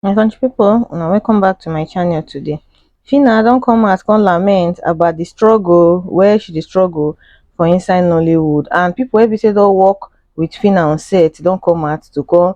my country people una welcome back to my channel today Phyna don come out come lament about the struggle where she dey struggle for inside nollywood and people wey be say don work with Phyna on set don come out to come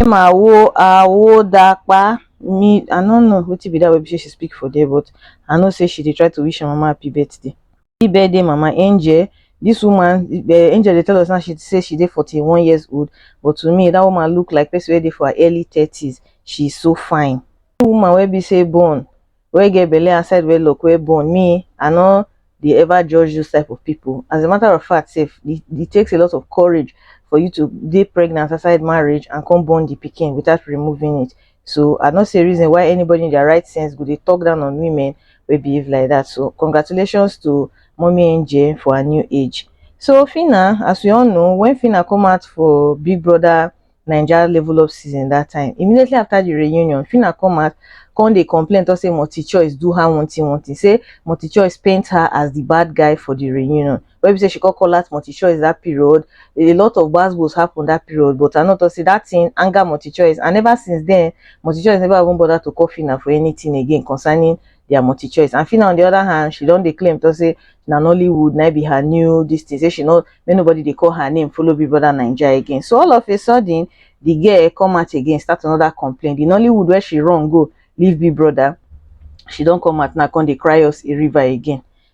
Emma wo awo da pa me I no know wetin be that wey be say she speak for there but I know say she dey try to wish her mama happy birthday. Happy birthday mama Angel this woman eh, Angel dey tell us now she say she dey forty one years old but to me that woman look like person wey dey for her early thirties she is so fine. Woman wey be say born wey get belle and side wey lock wey born me I no dey ever judge those type of people as a matter of fact sef e e takes a lot of courage for you to dey pregnant outside marriage and come born the pikin without removing it so I no see reason why anybody in their right sense go dey talk down on women wey behave like that so congratulations to mommy angel for her new age so Phyna as we all know when Phyna come out for big brother Naija level up season that time. Immediately after the reunion, Phyna come out, come dey complain talk say Multichoice do her one thing one thing. Say Multichoice paint her as the bad guy for the reunion. Wey be say she come call out Multichoice that period. A lot of gbas happen that period but I no talk say that thing anger Multichoice and ever since then, Multichoice never even bother to call Phyna for anything again concerning their multi choice and Fina on the other hand she don dey claim to say na Nollywood na be her new this thing say she no make nobody dey call her name follow Big Brother Naija again so all of a sudden the girl come out again start another complaint the Nollywood where she run go leave Big Brother she don come out now come dey cry us a river again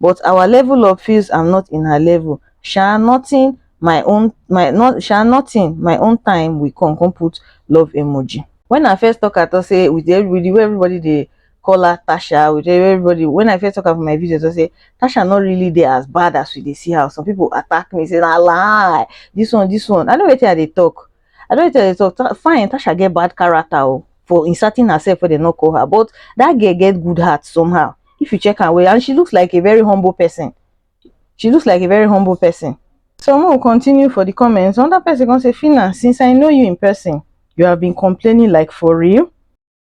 but our level of feels am not in her level sha nothing my own my not sha nothing my own time will come come put love emoji when i first talk at all say with everybody where everybody they call her tasha with everybody when i first talk about my videos i say tasha not really there as bad as we they see her some people attack me say na lie this one this one i know what i they talk I don't tell you so fine Tasha get bad character oh, for inserting herself where they not call her but that girl get good heart somehow if you check her way and she looks like a very humble person she looks like a very humble person so we will continue for the comments another person gonna say Fina since I know you in person you have been complaining like for real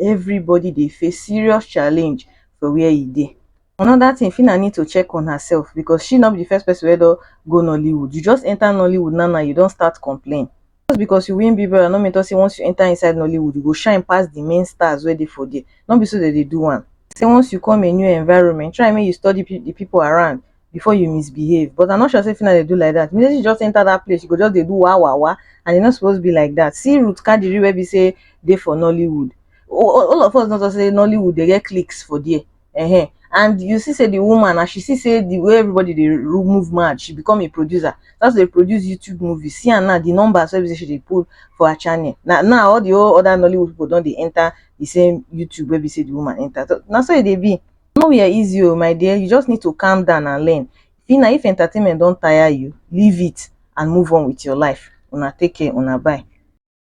everybody dey face serious challenge for where e dey. Another thing, Phyna need to check on herself because she no be the first person wey don go Nollywood. You just enter Nollywood now now, you don start complain. Just because you win Big Brother no mean talk say once you enter inside Nollywood, you go shine pass the main stars wey dey for there. No be so dem dey do am. Say once you come a new environment, try make you study the people around. before you misbehave but i'm not sure say Fina dey do like that immediately she just enter that place she go just dey do wa wa wa and e no suppose be like that see Ruth Kadiri wey be say dey for Nollywood all of us know talk say Nollywood dey get clicks for there uh-huh. and you see say the woman as she see say the way everybody dey ru- move mad she become a producer that's dey produce YouTube movies see am now the numbers wey be say she dey pull for her channel na now all the whole other Nollywood people don dey enter the same YouTube wey be say the woman enter so na so e dey be nowhere easy o my dear you just need to calm down and learn see na if entertainment don tire you leave it and move on with your life una take care una bye